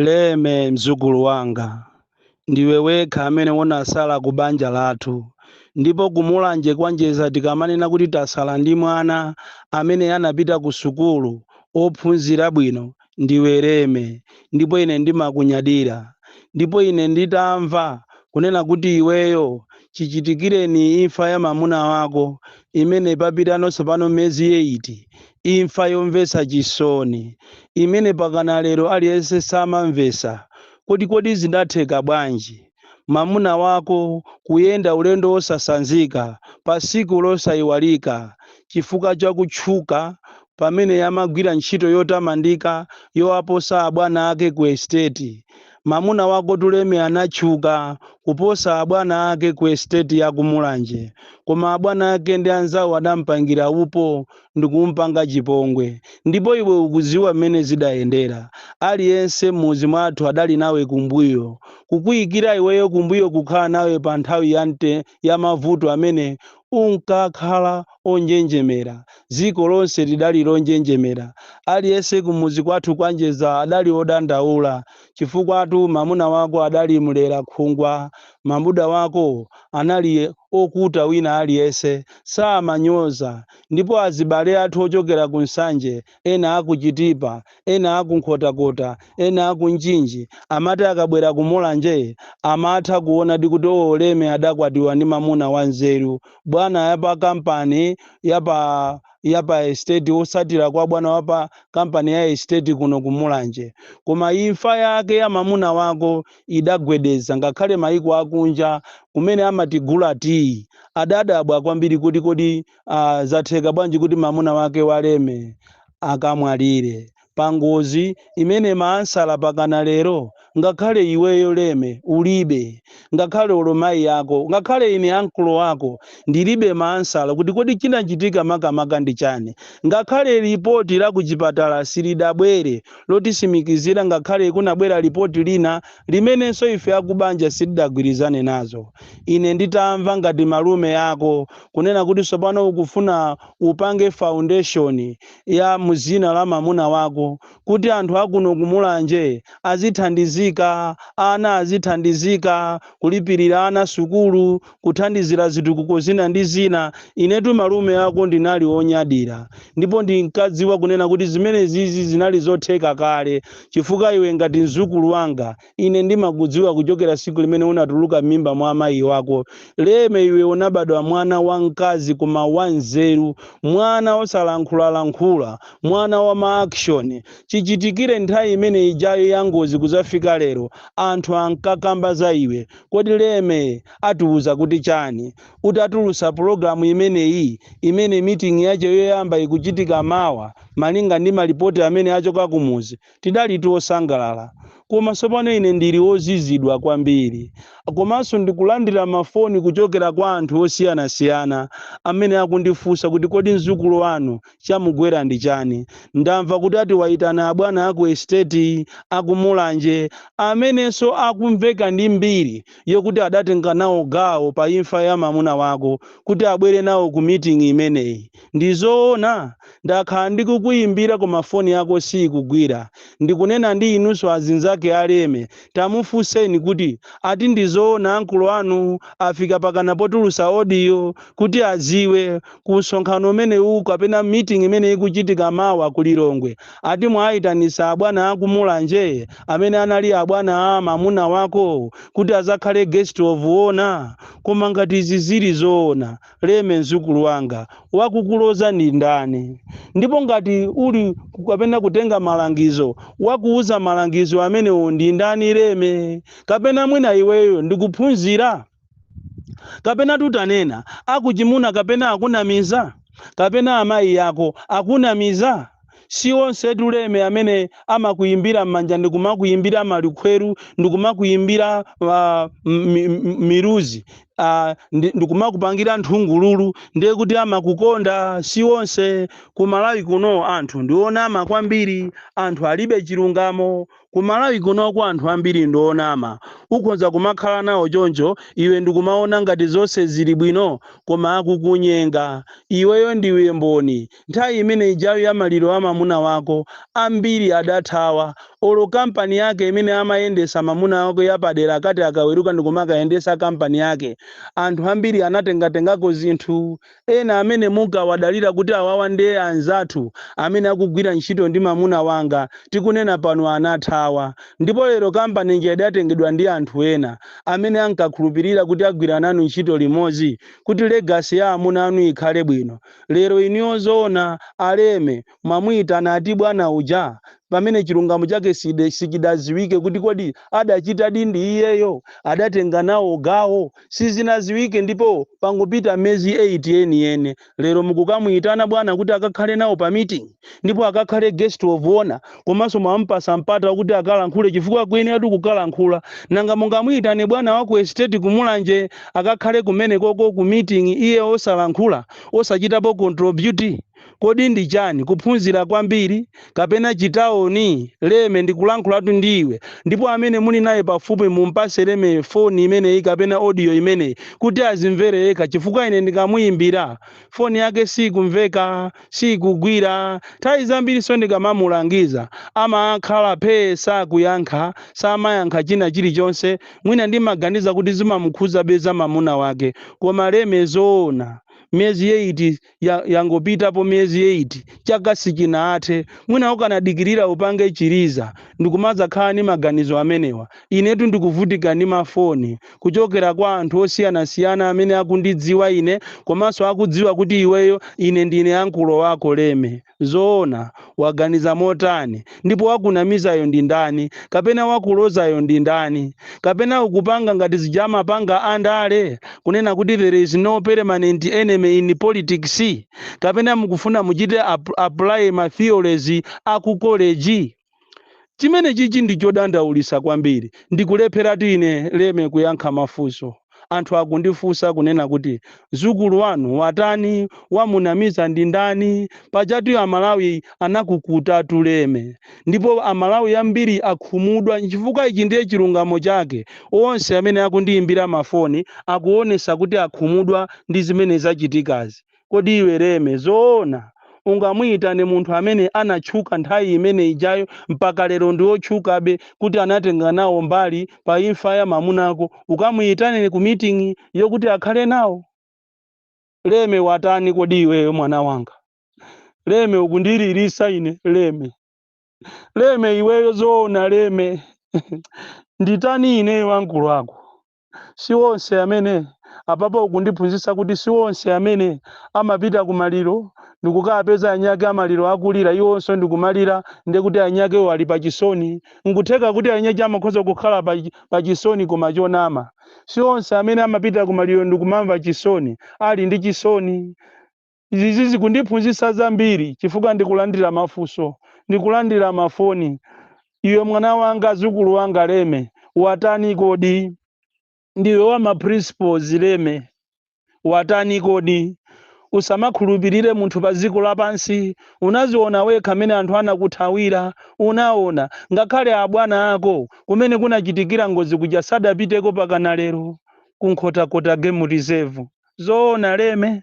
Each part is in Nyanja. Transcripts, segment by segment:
leme mdzukulu wanga ndiwe wekha amene unasala ku banja lathu ndipo kumulanje kwa Njedza tikamanena kuti tasala ndi mwana amene anapita ku sukulu ophunzira bwino ndiwe leme ndipo ine ndimakunyadira ndipo ine nditamva kunena kuti iweyo chichitikireni imfa ya mamuna wako imene papitano tsopano miyezi eyiti imfa yomvetsa chisoni imene mpakana lero aliyense samamvetsa kuti kodi zidatheka bwanji mamuna wako kuyenda ulendo wosasanzika patsiku losaiwalika chifukwa cha kutchuka pamene amagwira ntchito yotamandika yowaposa abwana ake ku esiteti mamuna wakotu leme anatchuka kuposa abwana ake ku esiteti ya ku mulanje koma abwana ake ndi anzawo adampangira upo ndikumpanga chipongwe. Ndipo iwe ukudziwa mmene zidayendera. Aliyense mmudzi mwathu adali nawe kumbuyo. Kukuyikira iweyo kumbuyo kukhala nawe pa nthawi ya mavuto amene unkakhala onjenjemera. Dziko lonse lidali lonjenjemera. Aliyense kumudzi kwathu kwa Njedza adali odandaula chifukwatu mamuna wako adali mlera khungwa Mamuna wako anali okuta wina aliyense samanyoza ndipo azibale athu ochokera ku Nsanje ena aku Chitipa ena aku Nkhotakota ena aku Mchinji amati akabwera ku Mulanje amatha kuonadi kuti oo Leme adakwatiwa ndi mamuna wa nzeru bwana yapa kampani yapa estate osatira kwa bwana wapa kampani ya estate kuno ku Mulanje koma imfa yake ya mamuna wako idagwedeza ngakhale maiko akunja kumene amatigula tea adadabwa kwambiri kuti kodi uh, zatheka bwanji kuti mamuna wake waleme akamwalire pangozi imene maansala mpakana lero ngakhale iweyo leme ulibe ngakhale olo mayi yako ngakhale ine ankolo wako ndilibe maansala kuti kodi chinachitika makamaka ndi chani ngakhale lipoti la kuchipatala silidabwere lotitsimikizira ngakhale kunabwera lipoti lina limenenso ife akubanja sitidagwirizane nazo ine nditamva ngati malume ako kunena kuti tsopano ukufuna upange foundation ya muzina la mamuna wako kuti anthu akuno kumulanje azithandizika ana azithandizika kulipirira ana sukulu kuthandizira zitukuko zina ndi zina. Inetu malume ako ndinali wonyadira ndipo ndinkadziwa kunena kuti zimenezizi zinali zotheka kale chifukwa iwe ngati mzukulu wanga ine ndimakudziwa kuchokera tsiku limene unatuluka m'mimba mwa amayi wako Leme iwe unabadwa mwana wamkazi koma wanzeru mwana osalankhulalankhula mwana wa ma action chichitikire nthawi imene ijayo ya ngozi kuzafika lero anthu ankakamba za iwe Kodi Leme atiuza kuti chani utatulutsa pulogalamu imeneyi imene meeting yache yoyamba ikuchitika mawa malinga ndi malipoti amene achoka kumuzi tidali osangalala koma tsopano ine ndili ozizidwa kwambiri komanso ndikulandira mafoni kuchokera kwa anthu osiyanasiyana amene akundifunsa kuti kodi mzukulu wanu Chamugwera ndi chani? Ndamva kuti ati waitana abwana aku estate aku Mulanje amenenso akumveka ndi mbiri yokuti adatenga nawo gawo pa imfa ya mamuna wako kuti abwere nawo ku meeting imeneyi. Ndi zoona? Ndakhala ndikukuimbira koma foni yako siikugwira. Ndikunena ndi inunso azinzake a Leme tamufunseni kuti ati ndi zoona ankolo anu afika pakana potulutsa audio kuti adziwe ku msonkhano umenewu kapena meeting imene ikuchitika mawa ku Lilongwe ati mwaitanitsa abwana aku Mulanje amene anali abwana a mamuna wako kuti adzakhale guest of honor koma ngati izi zili zoona Leme mzukulu wanga wakukuloza ndi ndani ndipo ngati uli kapena kutenga malangizo wakuuza malangizo amenewo ndi ndani Leme kapena mwina iweyo ndikuphunzira kapena titanena akuchimuna kapena akunamiza kapena amayi ako akunamiza si onsetu Leme amene amakuyimbira m'manja ndikumakuyimbira malikhweru ndikumakuyimbira uh, miluzi uh, ndikumakupangira nthungululu ndiye kuti amakukonda si onse ku Malawi kuno anthu ndi onama kwambiri anthu alibe chilungamo Ku Malawi kunoko anthu ambiri ndi onama. Ukhonza kumakhala nawo choncho iwe ndikumaona ngati zonse zili bwino koma akukunyenga. Iweyo ndiwe mboni. Nthawi imene ijayo ya maliro a mamuna wako, ambiri adathawa. Olo kampani yake imene amayendesa mamuna wako yapadera akati akaweruka ndikumakayendesa kampani yake, anthu ambiri anatengatengako zinthu. ena amene munkawadalira kuti awawa ndiye anzathu amene akugwira ntchito ndi mamuna wanga tikunena pano anathawa ndipo lero kampani ija idatengedwa ndi anthu ena amene ankakhulupirira kuti agwira nanu ntchito limodzi kuti legacy ya amuna anu ikhale bwino lero inuyo zoona a Leme mwamuitana ati bwana uja pamene chilungamo chake sichidaziwike kuti kodi adachitadi ndi iyeyo adatenga nawo gawo sizinaziwike ndipo pangopita mezi 8 yeniyeni lero mukukamuitana bwana kuti akakhale nawo pa meeting ndipo akakhale guest of honor komanso mwampasa mpata kuti akalankhule chifukwa akuyeneratu kukalankhula nanga mungamuitane bwana wa ku estate kumulanje akakhale kumenekoko ku meeting iye osalankhula osachitapo contribute Kodi ndi chani? Kuphunzira kwambiri? Kapena chitaoni? Leme, ndikulankhulatu ndi iwe. Ndipo amene muli naye pafupi mumpase Leme foni imeneyi kapena audio imeneyi kuti azimvere yekha chifukwa ine ndikamuyimbira, foni yake sikumveka, sikugwira. Nthawi zambiriso ndikamamulangiza amakhala phee sakuyankha, samayankha china chilichonse. Mwina ndimaganiza kuti zimamukhuzabe za mamuna wake. Koma Leme zoona? Miyezi eyiti yangopitapo miyezi 8 chaka sichinathe mwina ukanadikirira upange chiliza ndikumadzakhala ndi maganizo amenewa inetu ndikuvutika ndi mafoni kuchokera kwa anthu osiyanasiyana amene akundidziwa ine komanso akudziwa kuti iweyo ine ndine ankulo wako leme Zoona, waganiza motani? Ndipo wakunamizayo ndi ndani? Kapena wakulozayo ndi ndani? Kapena ukupanga ngati zija amapanga a ndale, kunena kuti there is no permanent enemy in politics? Kapena mukufuna muchite apply ma theories a ku college? Chimene chichi ndi chodandaulisa kwambiri ndikulepheratu ine leme kuyankha mafunso anthu akundifunsa kunena kuti mzukulu wanu watani wamunamiza ndi ndani pajatu amalawi anakukutatu leme ndipo amalawi ambiri akhumudwa chifukwa ichi ndiye chilungamo chake onse amene akundiyimbira mafoni akuonesa kuti akhumudwa ndi zimene zachitikazi Kodi iwe Leme, zoona ungamuyitane munthu amene anatchuka nthawi imene ijayo mpaka lero ndi otchukabe kuti anatenga nawo mbali pa imfa ya mamunako, ukamuyitane ku meeting yokuti akhale nawo? Leme watani kodi iweyo mwana wanga? Leme ukundililisa ine Leme. Leme iweyo zoona Leme? Nditani ineyo ankulu ako? si onse amene apapa ukundiphunzitsa kuti si onse amene amapita ku maliro ndikukapeza anyake amaliro akulira iwonso ndikumalira ndiye kuti anyakewo ali pa chisoni nkutheka kuti anyache amakhoza kukhala pa chisoni koma chonama si onse amene amapita ku maliro ndikumamva chisoni ali ndi chisoni Izi zikundiphunzitsa zambiri chifukwa ndikulandira mafunso, ndikulandira mafoni, Iwe mwana wanga, mzukulu wanga Leme, watani kodi? Ndiwe wa ma principles Leme, watani kodi? Usamakhulupirire munthu pa dziko lapansi, unaziona wekha mene anthu anakuthawira, unaona, ngakhale abwana ako kumene kunachitikira ngozi kuja sadapiteko pakana lero, ku Nkhotakota Game Reserve, zoona Leme?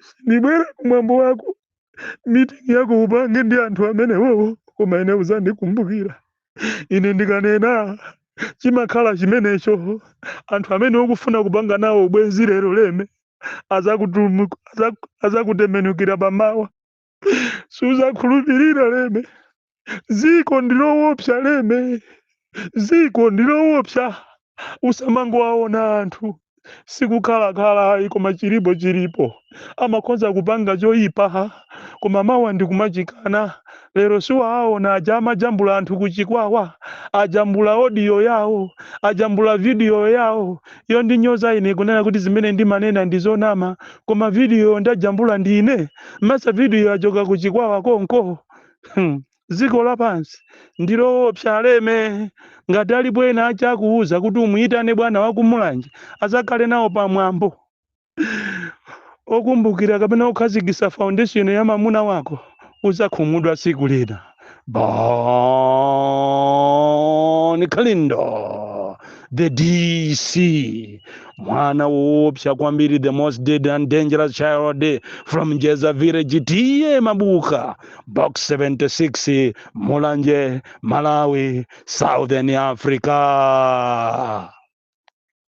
sindibwera kumwambo wako mitingi yako upange ndi anthu amenewowo koma ine uzandikumbukira ine ndikanena chimakhala chimenecho anthu amene ukufuna kupanga nawo ubwenzi lero leme azakutembenukira pamawa suzakhulupirira leme ziko ndilowopsa leme ziko ndilowopsa usamangowaona anthu sikukhalakhala ayi koma chilipo chilipo amakhoza kupanga choyipa koma mawa ndikumachikana lero siunawaona aja amajambula anthu kuchikwawa ajambula odiyo yawo ajambula vidiyo yawo yondinyoza ine kunena kuti zimene ndimanena ndizonama koma vidiyoyo ndajambula ndine masa video yachoka ku chikwawa konko. dziko lapansi ndiloopsa aleme ngati alipo ena ache akuuzani kuti umuyitane bwana wakumulanje azakhale nawo pamwambo okumbukira kapena kukhazikisa foundation ya mamuna wako uzakhumudwa tsiku lina Bon Kalindo, the DC, mwana woopsa kwambiri, the most dead and dangerous child from Jeza village, tiye mabuka, box 76, Mulanje, Malawi, Southern Africa.